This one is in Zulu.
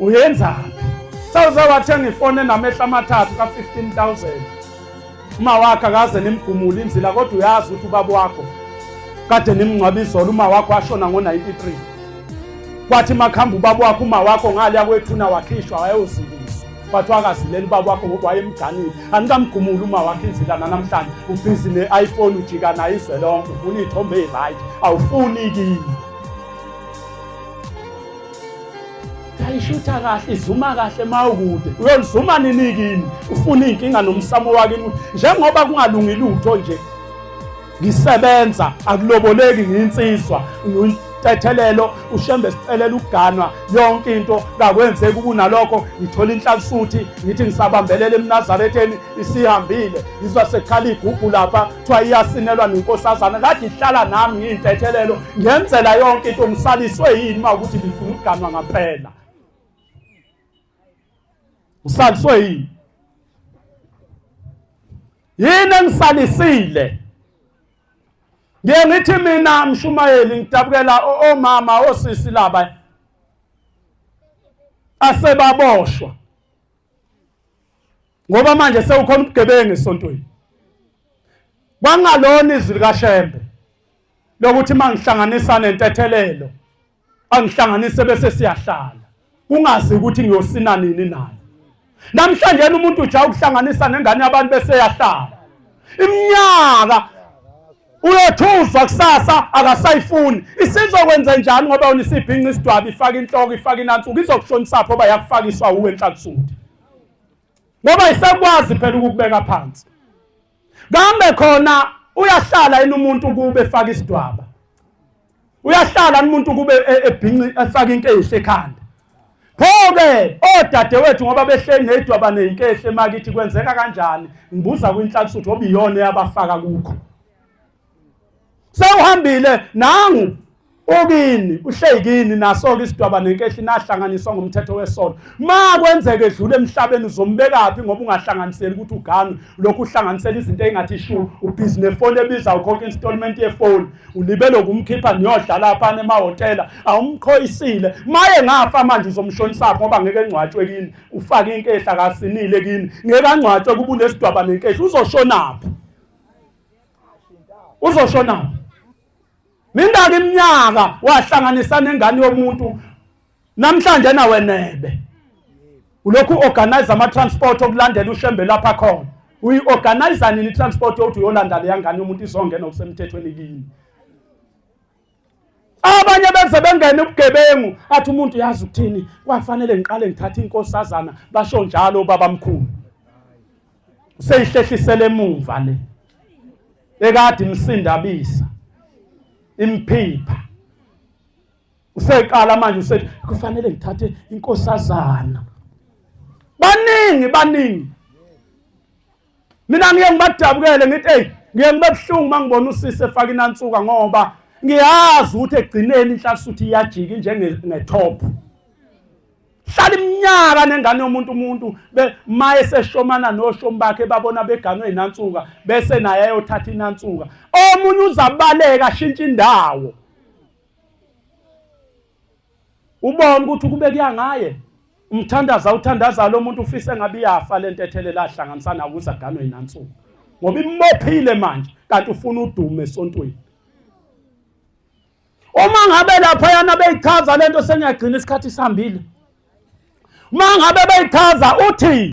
uyenzani sawuze wathenga ifoni enamehla amathathu ka-15000 uma wakhe akaze nimgumule inzila kodwa uyazi ukuthi ubaba wakho kade nimngcwaba izolo uma wakho washona ngo-93 kwathi makuhamba ubaba wakho uma wakho ngale yakwethuna wakhishwa wayewuziliswa kwathiwa akazileli ubaba wakho ngoba wayemganile anikamgumuli uma wakho inzila nanamhlanje ubhizi ne-iphone ujika nayo izwe lonke ufuna iy'thombe eyi-right awufuni kini ayishutha kahle izuma kahle mawukude uyolizuma nini kini ufuna inkinga nomsamo wakini njengoba kungalungi lutho nje ngisebenza akuloboleki nginsizwa tethelelo ushembe sicelela ukuganwa yonke into kakwenzeki kunalokho ngithola inhlansuthi ngithi ngisabambelela emnazaretheni isihambile ngizwa sekhala igugu lapha kuthiwa iyasinelwa nenkosazana kade ihlala nami ngiyintethelelo ngenzela yonke into ngisaliswe yini uma ukuthi ngifuna ukuganwa ngaphela ngisaliswe yini yini engisalisile ngiye ngithi mina mshumayeli ngidabukela omama osisi laba asebaboshwa ngoba manje sewukhona ubugebengu esontweni kwangalona izwi likashembe lokuthi mangihlanganisa nentethelelo angihlanganise bese siyahlala kungazi ukuthi ngiyosina nini naye namhlanje umuntu uja ukuhlanganisa nengane yabantu bese yahlala iminyaka uyothuzwa kusasa akasayifuni isizokwenza njani ngoba wena isibhinqa isidwabi ifaka inhloko ifaka inansuku izokushonisa pho oba yakufakiswa uwe enhlakusuthi ngoba isakwazi phela ukukubeka phansi kambe khona uyahlala yini umuntu kube efaka isidwaba uyahlala umuntu kube e, ebhinci efaka into eyihle ekhanda pho-ke odadewethu ngoba behleli neyidwaba neyinkehla emakithi kwenzeka kanjani ngibuza kwinhlakusuthi obiyona eyabafaka kukho sewuhambile nangu ukini uhleyikini naso-ke isidwaba nenkehli nahlanganiswa ngomthetho wesono ma kwenzeka edlula emhlabeni uzombekaphi ngoba ungahlanganiseli ukuthi uganwe lokhu uhlanganisela izinto eyingathi ishu ubhizi nefoni ebiza ukhokha installment yefoni ulibele ukumkhipha niyodlala phana emahhotela awumqhoyisile maye ngafa manje uzomshonisaphi ngoba ngeke engcwatshwe kini ufake inkehla kasinile kini ngeke angcwatshwe kuba unesidwaba nenkehli uzoshonaphi uzoshona mingaki iminyaka wahlanganisa nengane yomuntu namhlanje nawe nebe ulokhu organize ama transport okulandela ushembe lapha khona uyi organize nini transport yokuthi uyolanda le yangane yomuntu izongena okusemthethweni kini abanye beze bengena ubugebengu athi umuntu uyazi ukuthini kwafanele ngiqale ngithathe inkosazana basho njalo ubaba mkhulu seyihlehlisele emumva le ekade imsindabisa imphipha useqala manje usethi kufanele ngithathe inkosazana baningi baningi mina ngiye ngibadabukele ngithi eyi ngiye ngibe buhlungu uma ngibona usisi efake inansuka ngoba ngiyazi ukuthi egcineni inhlasuthi iyajika njengethophu hlala iminyaka nengane yomuntu umuntu maye seshomana noshomi bakhe babona beganwe inansuka bese naye ayothatha inansuka omunye uzabaleka ashintshe indawo ubone ukuthi kube kuyangaye umthandaza uthandaza lo muntu ufisa engabe iyafa le ntethelela ahlanganisa nawo ukuze aganwe yinansuku ngoba imophile manje kanti ufuna udume esontweni uma ngabe lapha yana beyichaza lento sengiyagcina isikhathi sihambile uma ngabe beyichaza uthi